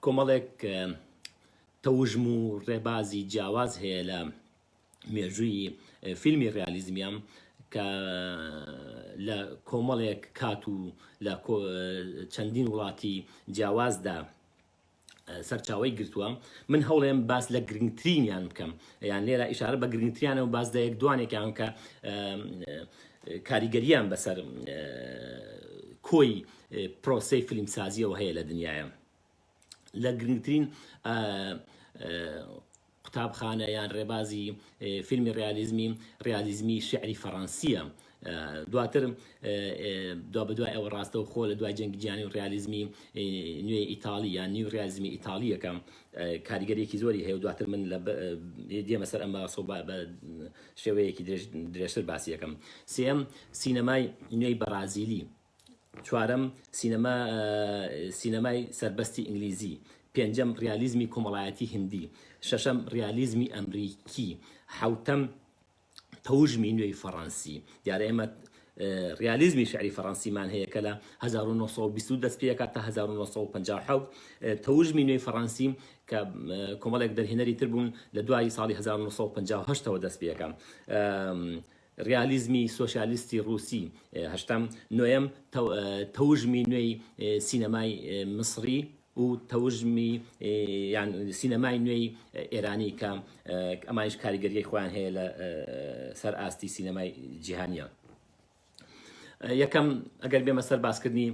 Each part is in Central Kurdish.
کۆمەڵێک تەوژم و ڕێبازی جیاواز هەیە لە مێژووی فیلمی ڕالیزمیان کە لە کۆمەڵێک کات و لە چەندین وڵاتی جیاوازدا سەرچاوەی گرتووە من هەوڵێم باس لە گرنگترینیان بکەم یان لێرە ئشارە بە گرنگتریانە و باس لە یەک دوانێکیان کە کاریگەریان بەسەر کۆی پرۆسی فیلمسازیەوە هەیە لە دنیاە لە گرنگترین قوتابخانە یان ڕێبازی فیلمی ڕیالیزمی ڕیالیزمی شیعری فەڕەنسییە. دواتر دوابەدوای ئەوە ڕاستەوخۆ لە دوای جەنگی جیهانی و ڕیالیزمی نوێی ئیتاڵی یان نیو ڕیالیزمی ئیتاڵییەکە کاریگەرییەکی زۆری هەیە و دواتر من دێمە سەر ئەم باسە و بە شێوەیەکی درێژتر باسی دەکەم. سێیەم، سینەمای نوێی بەڕازیلی. چوارەم، سینەما، سینەمای سەربەستی ئینگلیزی. پێنجەم، ڕیالیزمی کۆمەڵایەتی هندی. شەشەم، ڕیالیزمی ئەمریکی. حەوتەم، تەوژمی نوێی فەڕەنسی. دیارە ئێمە ڕیالیزمی شعری فەڕەنسیمان هەیە کە لە 1920 دەست پێ تا 1957 تەوژمی نوێی فەڕەنسی کە کۆمەڵێک دەرهێنەری تر بوون لە دوای ساڵی 1950ەوە دەست پێەکە ڕیالیزمی سۆسیالیستی ڕووسی هەشتەم، نۆیەم، تەوژمی نوێی سینەمای میسڕی و تەوژمی یان سینەمای نوێی ئێرانی کە ئەمانیش کاریگەریی خۆیان هەیە لە سەر ئاستی سینەمای جیهانییە. یەکەم، ئەگەر بێمە سەر باسکردنی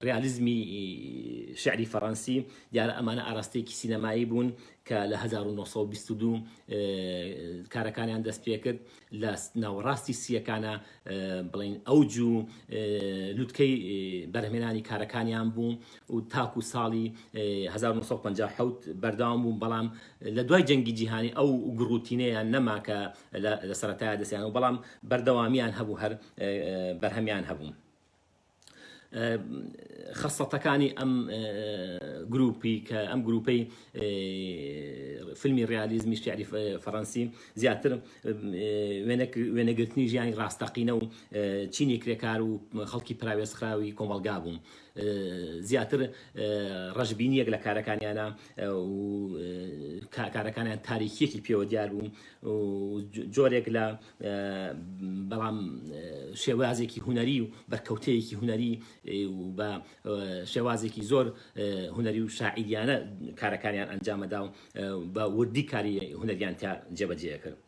ڕیالیزمی شیعری فەڕەنسی، دیارە ئەمانە ئاراستەیەکی سینەمایی بوون کە لە هەزار و نۆ سەد و بیست و دوو کارەکانیان دەست پێکرد لە ناوەڕاستی سیەکانە بڵین ئەو جو لوتکەی بەرهمێنانی کارەکانیان بوو و تاکو ساڵی 1950 بەرداوام بوو بەڵام لە دوای جەنگی جیهانی ئەو گڕوتینەیان نەما کە لە سەرەتای دەستیان و بەڵام بەردەوامیان هەبوو هەر بەرهەمیان هەبوو. خەسڵەتەکانی ئەم گروپی کە ئەم گروپەی فیلمی ڕیالیزمی شعری فەڕەنسی زیاتر وێنەگرتنی ژیانی ڕاستەقینە و چینی کرێکار و خەڵکی پراوێزخراوی کۆمەڵگا بوو زیاتر ڕژبینیەک لە کارەکانیانە کارەکانیان تاریکیەکی پێوە دیار بوو جۆرێک لە بەڵام شێوازێکی هونەری و بەرکەوتەیەکی هونەری و بە شێوازێکی زۆر هونەری و شاعیریانە کارەکانیان ئەنجامەدا و بە وردی کاری هونەریان تا جێبەجێ کرد.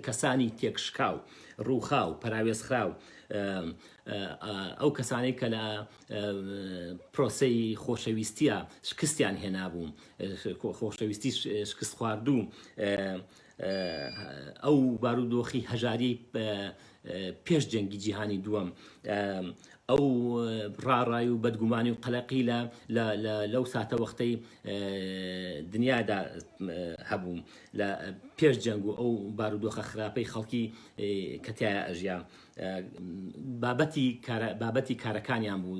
کەسانی تێکشکاو ڕووخا و پەراوێزخرا و ئەو کەسانی کە لە پرۆسی خۆشەویستیە شکستیان هێنابوو خۆشەویستی شکست خواردوو ئەو بارودۆخی هەژاریەی پێش جەنگی جیهانی دووەم ئەو ڕاڕای و بەدگومانی و قەلەقی لە لەو ساتە وەختەی دنیادا هەبوو لە پێش جەنگ و ئەو بارودۆخە خراپەی خەڵکی کەتیایە ئەژیا بابەتی بابەتی کارەکانیان بوو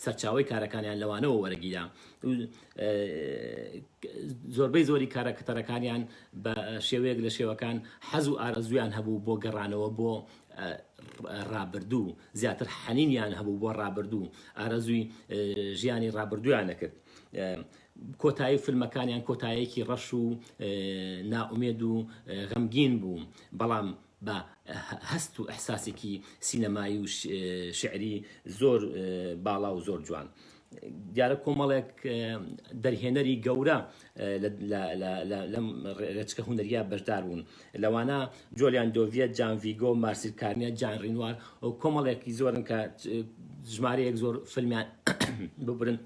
سەرچاوی کارەکانیان لەوانەوە وەرەگیرا زۆربەی زۆری کارەکتەرەکانیان بە شێوەیەک لە شێوەکان حەز و ئارەزوویان هەبوو بۆ گەڕانەوە بۆ ڕابردوو زیاتر حەنینیان هەبوو بۆ ڕابردوو ئارەزووی ژیانی ڕابردوویان نەکرد کۆتایی فیلمەکانیان کۆتایەکی ڕەش و ناومێد و غەمگین بوو بەڵام بە هەست و ئەحساسێکی سینەمایی و شعری زۆر باڵا و زۆر جوان دیارە کۆمەڵێک دەرهێنەری گەورە لەم رێچکە هونەریە بەشدار بوون لەوانە جۆلیان دۆڤە جان ڤیگۆ مارسیل کارنە جان رینوار و کۆمەڵێکی زۆرن کە ژمارەیەک زۆر فلمیان ببرن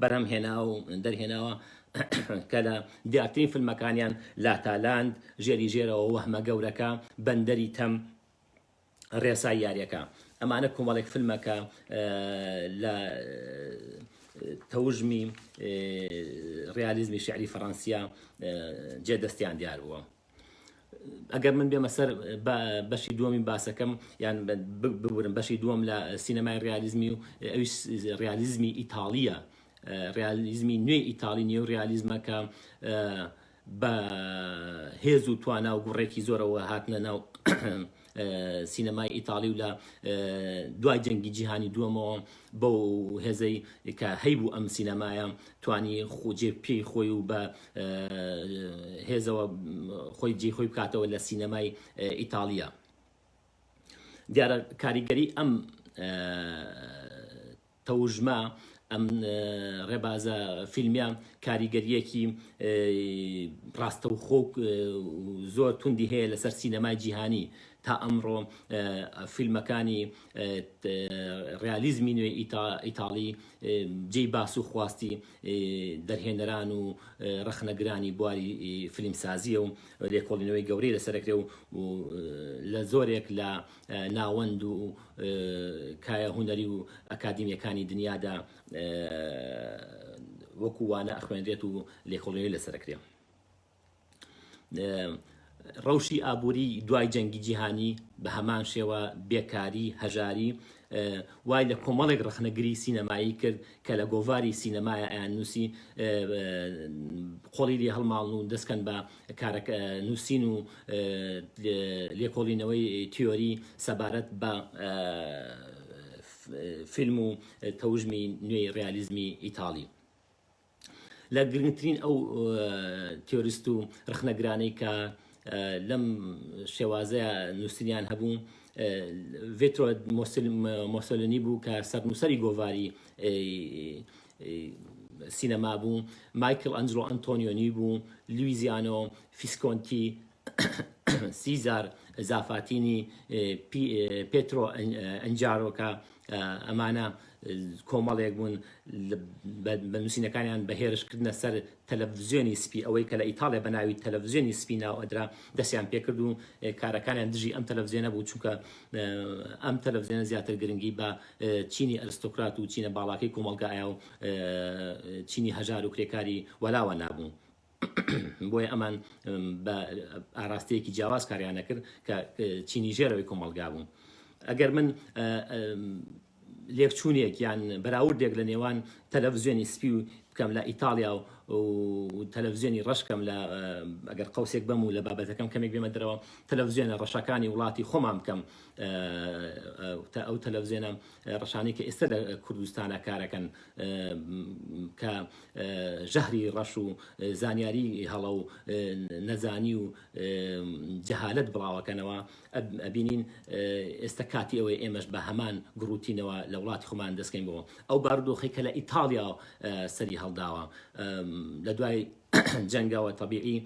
بەرهەم هێنا و دەرهێناوە کە لە دیارترین فلمەکانیان لاتالاند ژێری ژێرەوە وەهمە گەورەکە بەندەری تەم ڕێسای یاریەکە ئەمانە کۆمەڵێک فلمە کە لە تەوژمی ڕالیزمی شعری فەڕەنسیە جێ دەستیان دیار بووە ئەگەر من بێمە سەر بەشی دووەمی باسەکەم یان ببورم بەشی دووەم لە سینەمای ڕالیزمی و ئەوی ڕالیزمی ئیتاالیە ڕالیزمی نوێی ئیتاالی نیە و ڕالیزمەکە بە هێز و توانا و گوڕێکی زۆرەوە هاتنە ناو سینەمای ئیتاڵی و لە دوای جەنگی جیهانی دووەمەوە بەو هێزەی کە هەیبوو ئەم سینەمایە توانی خۆجێ پێی خۆی و بە هێزەوە خۆی جێ خۆی بکاتەوە لە سینەمای ئیتاڵیا دیارە کاریگەری ئەم تەوژمە ئەم ڕێبازە فیلمیە کاریگەرییەکی ڕاستەوخۆ و زۆر توندی هەیە لەسەر سینەمای جیهانی تا ئەمڕۆ فیلمەکانی ڕیالیزمی نوێ ئیتاڵی جێی باس و خواستی دەرهێنەران و ڕەخنەگرانی بواری فیلمسازییە و لێکۆڵینەوەی گەورەی لەسەر دەکرێ و لە زۆرێک لە ناوەند و کایە هونەری و ئەکادیمیەکانی دنیادا وەکو وانە ئەخوێنرێت و لێکۆڵینەوەی لەسەر ئەکرێ ڕەوشی ئابووری دوای جەنگی جیهانی بە هەمان شێوە بێکاری هەژاری وای لە کۆمەڵێک ڕخنەگری سینەمایی کرد کە لە گۆڤاری سینەمایە ئەیان نووسی قۆڵی لێ هەڵماڵن و دەستکەن بە کارەک نووسین و لێکۆڵینەوەی تیۆری سەبارەت بە فیلم و تەوژمی نوێی ڕیالیزمی ئیتاڵی. لە گرنگترین ئەو تیۆریست و ڕخنەگرانەی کە لەم شێوازەیە نووسنیان هەبوو ڤێتۆ مۆسلنی بوو کە سەرنووسری گۆڤاری سینەما بوو، مایکل ئەنجلۆ ئەنتۆنیۆنی بوو، لویزیانۆ فیسکۆنتی، سیزار زافاتینی، پێترۆ ئەنجارۆکا، ئەمانە کۆمەڵێک بوون بە نووسینەکانیان بە هێرش کردنە سەر تەلەڤزیۆنی سپی ئەوەی کە لە ئیتاڵیا بە ناوی تەلەڤزیۆنی سپی ناو ئەدرا دەستیان پێکرد و کارەکانیان دژی ئەم تەلەڤزیۆنە بوو چونکە ئەم تەلەڤزیۆنە زیاتر گرنگی بە چینی ئەرستۆکرات و چینە باڵاکەی کۆمەڵگایا و چینی هەژار و کرێکاری وەلاوە نابوو. بۆیە ئەمان بە ئاراستەیەکی جیاواز کاریانە کرد کە چینی ژێرەوەی کۆمەڵگا بوو. ئەگەر من لێکچوونێک یان بەراوردێک لە نێوان تەلەڤزیۆنی سپی و بکەم لە ئیتالیا و تەلەڤزیۆنی ڕەشکەم لە ئەگەر قوسێک بەم و لە بابەتەکەم کەمێک بێمە درەوە تەلەڤزیۆنە ڕەشەکانی وڵاتی خۆمان بکەم تا ئەو تەلەڤزێنە ڕەشانەی کە ئێستا لە کوردستانە کارەکەن کە ژەهری ڕەش و زانیاری هەڵە و نەزانی و جەهالت بڵاوەکەنەوە ئەبینین ئێستا کاتی ئەوەی ئێمەش بە هەمان گڕوتینەوە لە وڵاتی خۆمان دەستکەین بۆ ئەو بارودۆخی کە لە ئیتاڵیا سەری هەڵداوە لە دوای جەنگەوە تەبیعی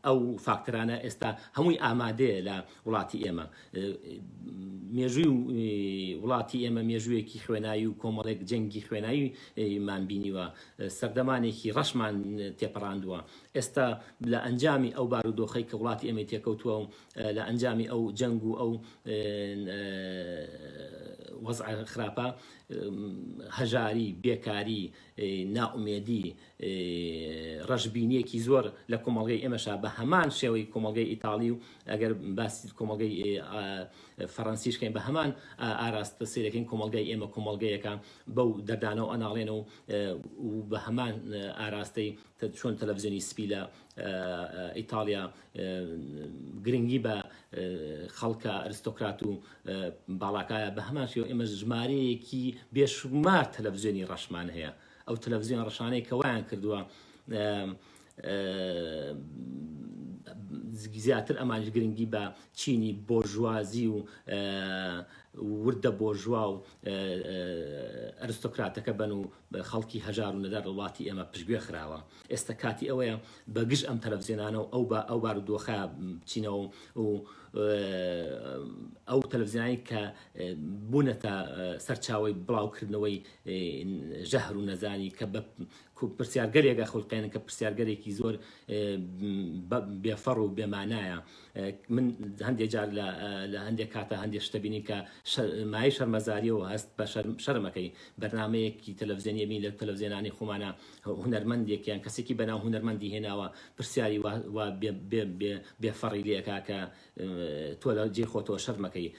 ئەو فاکتەرانە ئێستا هەمووی ئامادەیە لە وڵاتی ئێمە مێژووی وڵاتی ئێمە مێژوویەکی خوێنایی و کۆمەڵێک جەنگی خوێنایی مان بینیوە سەردەمانێکی ڕەشمان تێپەڕاندووە ئێستا لە ئەنجامی ئەو بارودۆخی کە وڵاتی ئێمە تێکەوتووە و لە ئەنجامی ئەو جەنگ و ئەو وەزع خراپە هەژاری بێکاری نائومێدی ڕەشبینیەکی زۆر لە کۆمەڵگەی ئێمەشا بە هەمان شێوەی کۆمەڵگەی ئیتاڵی و ئەگەر باسی کۆمەڵگەی فەڕەنسیش کەین بە هەمان ئاراستە سەیرەکەین کۆمەڵگای ئێمە کۆمەڵگەیەکە بەو دەردانەوە ئەناڵێنەوە و بە هەمان ئاراستەی چۆن تەلەڤزیۆنی سپی لە ئیتاڵیا گرنگی بە خەڵکە ئەرستۆکرات و باڵاکایە بە هەمان شێوە ئێمە ژمارەیەکی بێشمار تەلەڤزیۆنی ڕەشمان هەیە ئەو تەلەڤزیۆن ڕەشانەی کە وایان کردووە زیاتر ئەمانش گرنگی بە چینی بۆژوازی و وردە بۆژوا و ئەرستۆکراتەکە بن و خەڵکی هەژار و نەدار وڵاتی ئێمە پشگوێ خراوە. ئێستا کاتی ئەوەیە بە گژ ئەم تەلەڤزیۆنانە و ئەو بە ئەو بارودۆخە بچینەوە و ئەو تەلەڤزیۆنانی کە بوونەتە سەرچاوی بڵاوکردنەوەی ژەهر و نەزانی کە بە پرسیارگەلێکە خولقێنن کە پرسیارگەلێکی زۆر بێفەڕ و بێمانایە من هەندێک جار لە هەندێک کاتە هەندێک شتەبینی کە مای شەرمەزاریەوە هەست بە شەرمەکەی بەرنمەیەکی تەلەڤزیێنیەبی لە تەلەڤزیێنانی خۆمانە هونەرمەندێک یان کەسێکی بەناو هونەرمەندی هێناوە پرسیاری وا وا بێ بێ بێ بێ فەڕی لێ ئەکا کە تۆ لە جێی خۆتەوە شەرم ئەکەی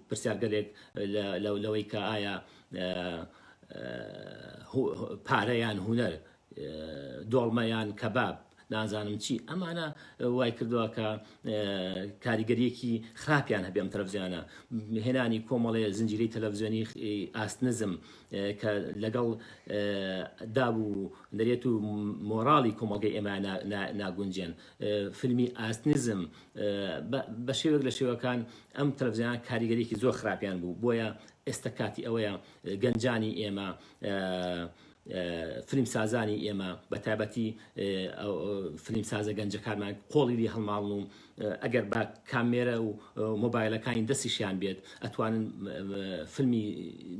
پرسیارگەلێک لە لە لەوەی کە ئایا پارە یان هونەر دۆڵمە یان کەباب نازانم چی ئەمانە وای کردووە کە کاریگەریەکی خراپیان هەبێ ئەم تەلەڤزیۆنە هێنانی کۆمەڵێ زنجیری تەلەڤزیۆنی ئاست نزم کە لەگەڵ داب و نرێت و مۆراڵی کۆمەڵگەی ئێمە ناگونجێن فیلمی ئاست نزم بە شێوێک لە شێوەکان ئەم تەلەڤزیۆن کاریگەریکی زۆر خراپیان بوو بۆیە ئێستا کاتی ئەوەیە گەنجانی ئێمە فلیمسازانی ئێمە بە تایبەتی فلیمسازە گەنجەکانمان قۆڵی لێ هەڵماڵن و ئەگەر بە کامێرە و مۆبایلەکانی دەستیشیان بێت ئەتوانن فیلمی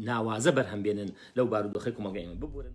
ناوازە بەرهەم بێنن لەو بارودۆخی کومەڵگە ئێمە ببورن